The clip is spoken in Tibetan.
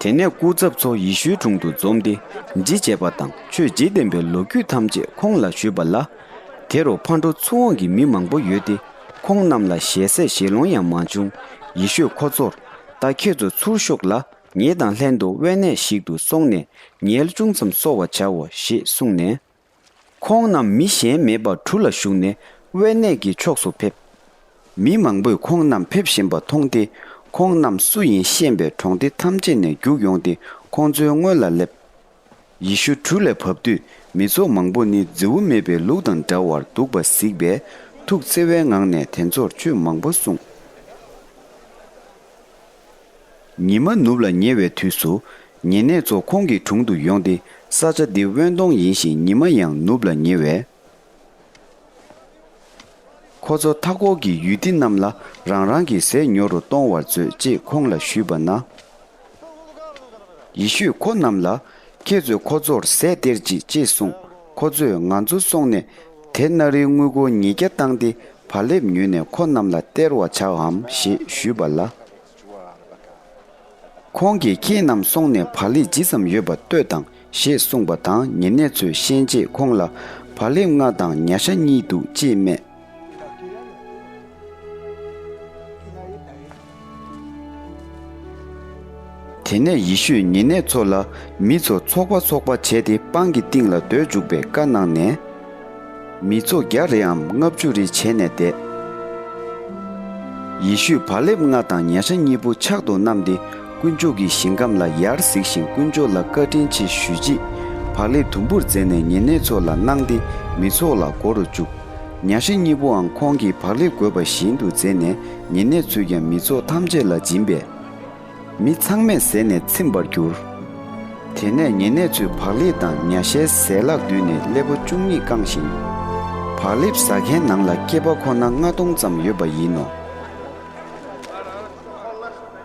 དེ་ནས་སྐུ་ཚབ་ཚོ་ཡེ་ཤུའི་དྲུང་དུ་འཛོམས་ཏེ་འདྲི་བྱས་པ་དང་ཆོས་བརྗེ་ལྡན་པའི་ལོ་རྒྱུས་ཐམས་ཅད་ཁོང་ལ་ཞུས་པ་ལ། དེ་རུ་ཕར་འགྲོ་ཚུར་འོང་གི་མི་མང་པོ་ཡོད་དེ་ཁོང་རྣམས་ལ་ཞལ་ཟས་ཞལ་ལོང་ཡང་མ་བྱུང། ཡེ་ཤུས་ཁོ་ཚོར། ད་ཁྱེད་ཚོ་ཚུར་ཤོག་ལ་ངེད་དང་ལྷན་དུ་དབེན་གནས་ཤིག་ཏུ་སོང་ནས་ཉལ་ཅུང་ཙམ་གསོ་བ་བྱའོ་ཞེས་གསུངས་ནས། ཁོང་རྣམས་མི་གཞན་མེད་པར་གྲུ་ལ་བཞུགས་ནས་དབེན་གནས་ཀྱི་ཕྱོགས་སུ་ཕེབས། མི་མང་པོས་ཁོང་རྣམས་ཕེབས་བཞིན་པ་མཐོང་སྟེ་ཁོང་རྣམས་སུ་ཡིན་ཤེས་པས་གྲོང་སྡེ་ཐམས་ཅད་ནས་རྒྱུག་ཡོང་སྟེ་ཁོང་ཚོའི་སྔོན་ལ་སླེབས། ཡེ་ཤུ་གྲུ་ལས་བབས་དུས་མི་ཚོགས་མང་པོ་ནི་རྫི་བོ་མེད་པའི་ལུག་དང་འདྲ་བར་འདུག་པ་གཟིགས་པས་ཐུགས་བརྩེ་བའི་ངང་ནས་དེ་ཚོར་ཆོས་མང་པོ་གསུངས། ཉི་མ་ནུབ་ལ་ཉེ་བའི་དུས་སུ། ཉེ་གནས་ཚོ་ཁོང་གི་དྲུང་དུ་ཡོང་སྟེ་ས་ཆ་འདི་དབེན་སྟོང་ཡིན་ཞིང་ཉི་མ་ཡང་ནུབ་ལ་ཉེ་བས། ཁོ་ཚོ་མཐའ་འཁོར་གྱི་ཡུལ་སྡེ་རྣམས་ལ་རང་རང་གི་ཟས་ཉོ་རུ་གཏོང་བར་མཛོད་ཅེས་ཁོང་ལ་ཞུས་པ་ན། ཡེ་ཤུས་ཁོ་རྣམས་ལ། ཁྱེད་ཚོས་ཁོ་ཚོར་ཟས་སྟེར་ཅིག་ཅེས་གསུངས། ཁོ་ཚོས་ང་ཚོ་སོང་ནས་དེ་སྣ་རིལ་དངུལ་སྒོར་ཉིས་བརྒྱ་བཏང་སྟེ་བག་ལེབ་ཉོས་ནས་ཁོ་རྣམས་ལ་སྟེར་བར་བྱ་འམ་ཞེས་ཞུས་པ་ལ། ཁོང་གིས་ཁྱེད་རྣམས་སོང་ནས་བག་ལེབ་ཇི་ཙམ་ཡོད་པ་ལྟོས་དང་ཞེས་གསུངས་པ་དང་ཉེ་གནས་ཚོས་ཤན་འབྱེད་ཁོང་ལ་བག་ལེབ་ལྔ་དང་ཉྭ་ཤ་གཉིས་འདུག་ཅེས་སྨྲས། དེ་ནས་ཡེ་ཤུས་ཉེ་གནས་ཚོ་ལ་མི་ཚོ་ཚོགས་པ་ཚོགས་པ་བྱས་ཏེ་སྤང་གི་སྟེང་ལ་སྡོད་འཇུག་པའི་བཀའ་གནང་ནས། མི་ཚོ་བརྒྱ་རེའམ་ལྔ་བཅུ་རེ་བྱས་ནས་བསྡད། ཡེ་ཤུས་བག་ལེབ་ལྔ་དང་ཉྭ་ཤ་གཉིས་པོ་ཕྱག་ཏུ་བསྣམས་ཏེ་དཀོན་མཆོག་གི་ཞིང་ཁམས་ལ་ཡར་གཟིགས་ཤིང་དཀོན་མཆོག་ལ་བཀའ་དྲིན་ཆེ་ཞུས་རྗེས་བག་ལེབ་དུམ་བུར་བརྫེས་ནས་ཉེ་གནས་ཚོ་ལ་གནང་སྟེ་མི་ཚོགས་ལ་བསྒོ་རུ་བཅུག། གཉའ་ཤིང་གཉིས་པོའང་ཁོང་གིས་བག་ལེབ་བགོས་པ་བཞིན་དུ་བརྫེས་ནས་ཉེ་གནས་ཚུད་ཀྱང་མི་ཚོགས་ཐམས་ཅད་ལ་སྦྱིན་པས། མི་ཚང་མས་ཟས་ནས་ཚིམས་པར་གྱུར། དེ་ནས་ཉེ་གནས་ཚོས་བག་ལེབ་དང་གཉའ་ཤའི་ཟས་ལག་བསྡུས་ནས་སླེ་པོ་བཅུ་གཉིས་བཀང་ཞིང། བག་ལེབ་ཟ་མཁན་ནང་ལ་སྐྱེས་པ་ཁོ་ན་ལྔ་སྟོང་ཙམ་ཡོད་པ་ཡིན་ནོ།